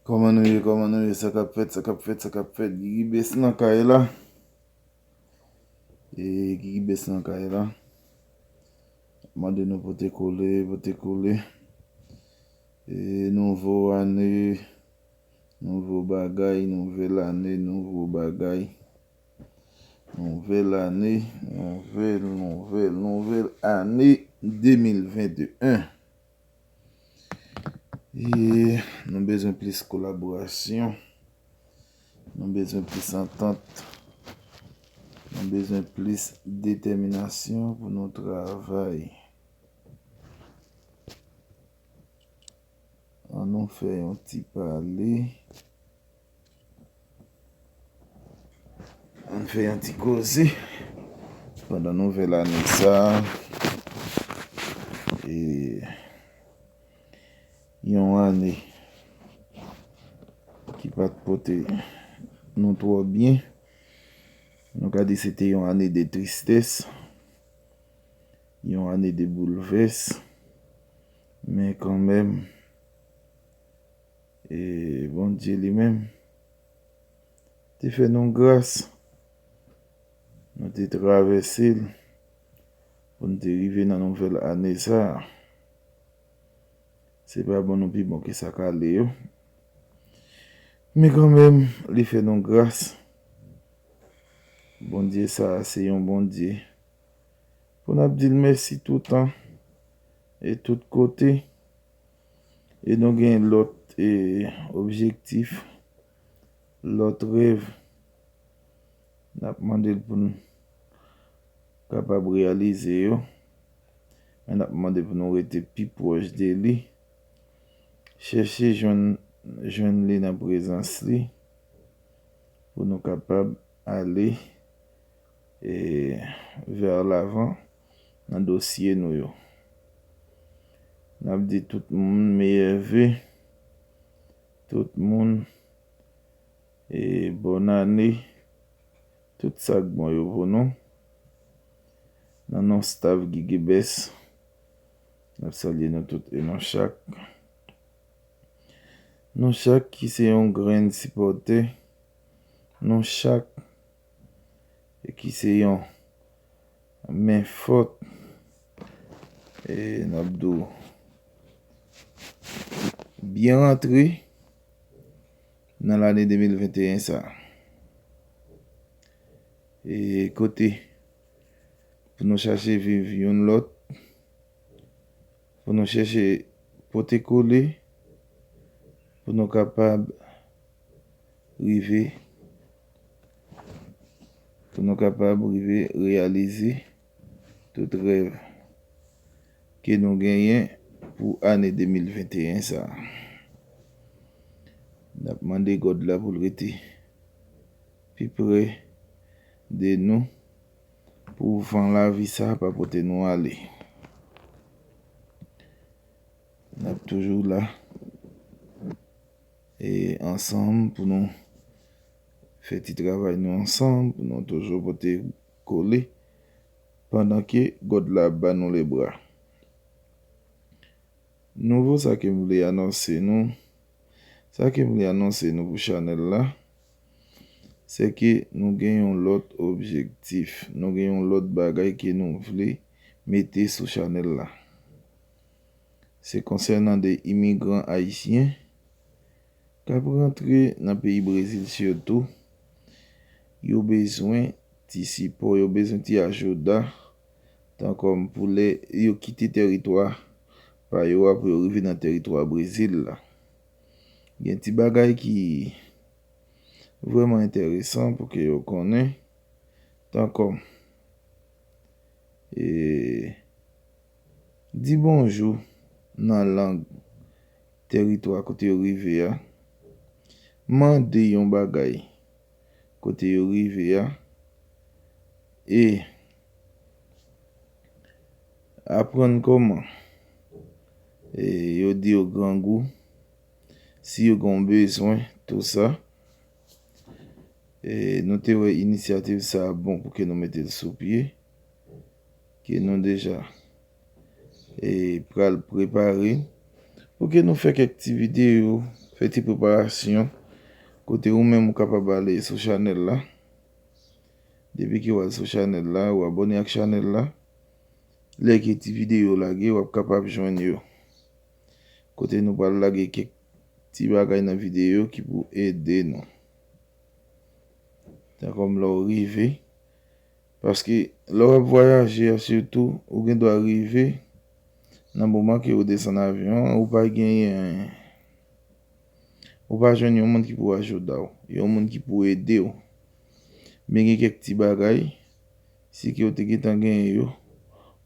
Koman nou ye koman nou ye sa kap fèt sa kap fèt sa kap fèt Gigi best nan kay la ee Gigi best nan kay la mande nou pote kole pote kole ee nouvo ane nouvo bagay nouvel ane nouvo bagay Nouvèl ane, nouvèl, nouvèl, nouvèl ane 2021. Ye, nou bezwen plis kolaborasyon, nou bezwen plis antant, nou bezwen plis detèminasyon pou nou travay. An nou fè yon ti pale. An nou fè yon ti koze. Pandan nouvèl ane sa. E. Yon ane. Ki pa te pote. Nou tro byen. Nou ka di se te yon ane de tristès. Yon ane de boulvès. Men kanmenm, e Bondye li menm te fè nou gras, nou te travèse l pou n te rive nan nouvèl ane sa a. Se pa bon nou pi bon ke sa k ale yo, men kanmenm li fè nou gras. Bondye sa a se yon Bondye pou n ap di l mèsi toutan. e tout kote e nou gen lòt e objektif lòt rèv nap mandel pou nou kapab reyalize yo men nap mande pou nou rete pi pwòch de li chèche jwenn jwenn li nan prezans li pou nou kapab ale e vèr lavan. nan dosye nou yo. Nap di tout moun meyè ve, tout moun e bòn ane, tout sak bon yo pou nou. Nan non staff Gigibest, nap salye nou tout e nou chak. Nou chak ki se yon grenn sipòtè, nou chak e ki se yon men fòt e n ap di w byen rantre nan lane 2021 sa a. E kote pou nou chache viv youn lòt, pou nou chèche pote kole, pou nou kapab rive Pou nou kapab rive reyalize tout rèv ke nou genyen pou ane 2021 sa. N ap mande God la pou l rete pi pre de nou pou van lavi sa pa pote nou ale. N ap toujou la. E ansanm pou nou fè ti travay nou ansanm pou nou toujou pote kole pandan ke God la ap ba nou le bra. Nouvo sa ke m vle anonse nou, sa ke m vle anonse nou pou chanèl la, se ke nou gen yon lòt objektif, nou gen yon lòt bagay ke nou vle mete sou chanèl la. Se konsènan 2 imigran ayisyen k ap rantre nan peyi Brezil sitou, yo bezwen ti sipò, yo bezwen ti ajouda tan kòm pou lè yo kite tèritwa pa yo a pou yo rive nan tèritwa Brezil la. Gen ti bagay ki vrèman entèresan pou ke yo konnen tan kòm e. Di bonjou nan lang tèritwa kote yo rive a. Mande yon bagay kote yo rive a. E. Aprann kòman yo di yo grangou, si yo gen yon bezwen, tou sa. E nou te wè inisyativ sa a bon pou ke nou mete l sou pye. ke nou deja e pral prepare pou ke nou fè kèk ti videyo, fè ti preparasyon kote ou menm ou kapab ale sou chanèl la depi ke ou al sou chanèl la ou abòne ak chanèl la lè ke ti videyo lage wap kapab jwenn yo kote nou pral lage kèk ti bagay nan videyo ki pou ede nou tan kòm lè ou rive Paske lè w ap vwayaje a sitou ou gen dwa rive nan moman ke ou desann avyon an ou pa genyen ou pa jwenn yon moun ki pou ajouda w, yon moun ki pou ede w. Men gen kèk ti bagay si ke ou te gen tan genyen yo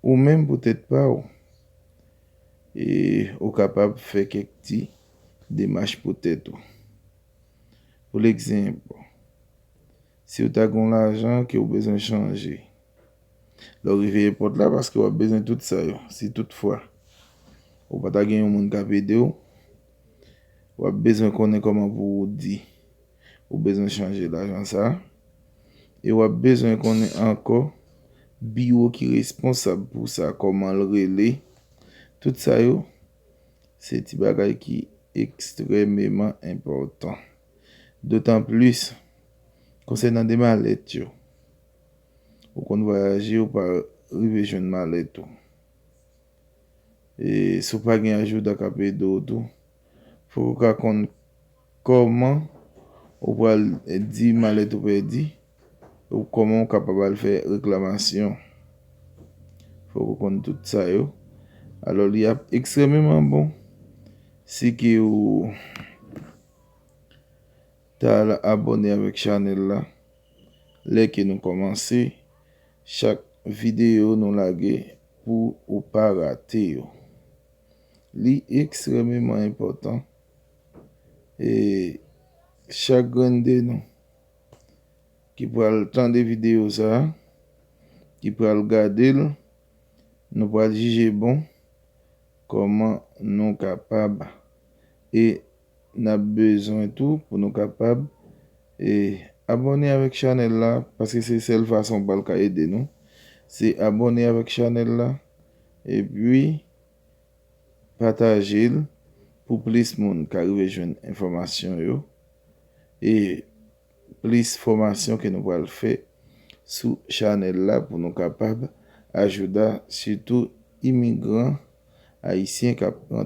ou menm pou tèt pa w e ou kapab fè kèk ti demach pou tèt ou. Pou lekzenp Si w ta gen yon lajan ke w bezwen chanje lè w rive epòt la paske w ap bezwen tout sa yo si tout fwa ou pa ta gen yon moun k ap ede w w ap bezwen konnen kòman pou w di ou bezwen chanje lajan sa a e w ap bezwen konnen ankò biwo ki responsab pou sa kòman l rele tout sa yo se ti bagay ki ekstrèmeman enpòtan. Dotanplis, konsènan de malèt yo, ou konn vwayaje ou pa rive jwenn malèt ou. E si w pa gen ajoudan k ap ede w tou, fòk ou ka konn kòman ou pral di malèt ou pèdi ou kòman ou kapab al fè reklamasyon. Fòk ou konn tout sa yo. Alò li ap ekstrèmeman bon si ke ou. Ta al abone avek chanel la lè ke nou komanse chak video nou lage pou ou pa rate yo. Li ekstrememan enpotan e chak grenn de nou ki pral tande video sa, ki pral gade l, nou pral jije bon koman nou kapab e n ap bezwen tou pou nou kapab e abòne avèk chanèl la paske se sèl fason w pral ka ede nou se abòne avèk chanèl la epi pataje l pou plis moun ka rive jwenn enfòmasyon yo e plis fòmasyon ke nou pral fè sou chanèl la pou nou kapab ajouda sitou imigran ayisyen k ap